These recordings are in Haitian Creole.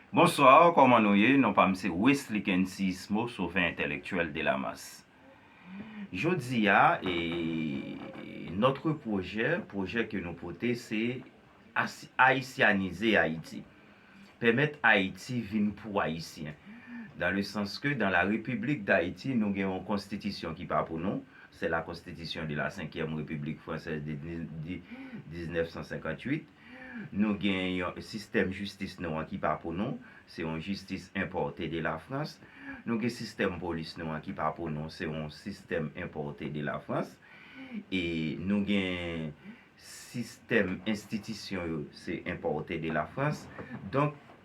Bonsoir koman nou ye non pam se Wesly Kencismo sovè entèlektyèl delamas jodia e notre projè projè ke nou pote se ayisyanize ayiti pèmèt ayiti vin pou ayisyen dan le sans ke dan la repiblik dayiti nou gen yon konstitisyon ki pa pou nou se la konstitisyon de la senkyèm repiblik fransèz de 1958 Nou gen yon sistèm jistis nou an ki pa pou nou, se yon jistis enpòte de la Frans. Nou gen sistèm polis nou an ki pa pou nou, se yon sistèm enpòte de la Frans. E nou gen sistèm enstitisyon yo, se enpòte de la Frans. Donk.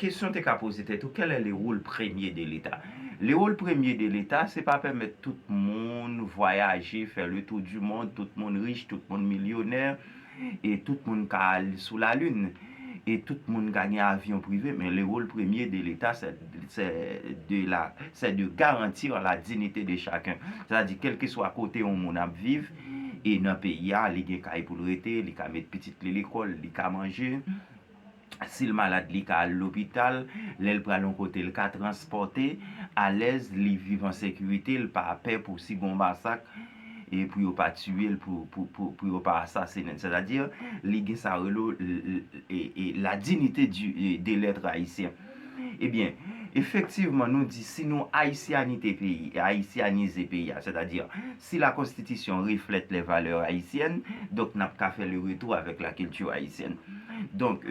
Kesyon te ka poze tèt ou, quel est le rôle premier de l'Etat? Le rôle premier de l'Etat se pa pèmèt tout moun vwayaje, fè le tour du monde, tout moun rich, tout moun milyonè, e tout moun ka al sou la lune, e tout moun ka gen avyon prive, men le rôle premier de l'Etat sè sè de la sè de garantir la dignité de chacun. Sè ta di kelkeswa kote yon moun ap viv e nan peyi a li gen kay pou l rete, li ka met pitit li lekòl, li ka manje, Si l malad li ka al lopital, lè l pral yon kote l ka transpòte, alèz, li viv an sekirite, l pa pè pou si gon masak e pou yo pa tiye l, pou yo pa asasinen l. Sètadi, li gen sa yo rele la dinite de lèt ayisyen. Ebyen, efektivman nou di si nou ayisyanite peyi, ayisyanize peyi a, sètadi si la konstitisyon reflèt lè valè ayisyèn, donk nap ka fè le retou avèk la kilti ayisyèn. Donk,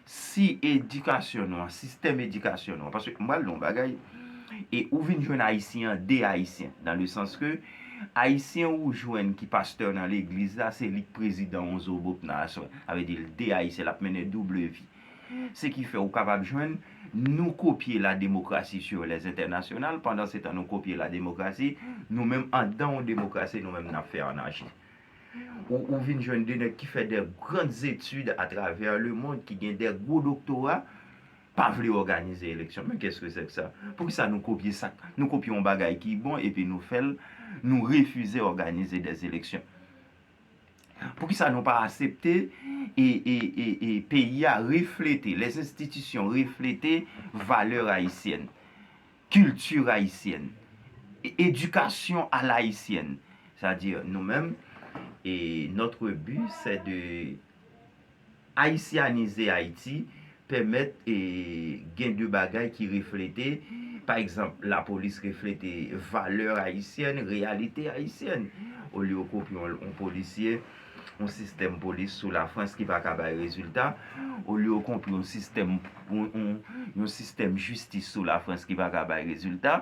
si edikasyon nou an, sistèm edikasyon nou an, paske m pral di w yon bagay, e ou vin jwenn ayisyen an de ayisyen, dan le sans ke ayisyen ou jwenn ki pastè nan legliz la, se li k prezidan w zobob nan aswè. Sa vle di l de ayisyen, lap mennen double vi. Se ki fè ou kapab jwenn nou kopye la demokrasi sur les internationales pandan se tan nou kopye la demokrasi, nou menm andan yon demokrasi nou menm nap fè anachi. Ou ou vin jwenn 2 nèg ki fè de grand études à travers le monde, ki gen de gwo doktora, pa vle òganize eleksyon. Men qu'est-ce que c'est que ça? Pou ki sa nou kopye sak, nou kopye yon bagay ki bon epi nou fèl, nou refize òganize des élections. Poukisa nou pa asepte e peyi a reflete, les institutions reflete valè ayisyèn, kilti ayisyèn, edikasyon a la ayisyèn. Sa di nou menm notre but c'est de. Ayisyanize Ayiti pèmèt gen de bagay ki reflete, pa egzanp, lapolis reflete valè ayisyèn, reyalite ayisyèn. Olye w kopye yon polisye, yon sistèm polis sou Lafrans ki pa ka bay rezilta, olye w kopye yon sistèm jistis sou Lafrans ki pa ka bay rezilta,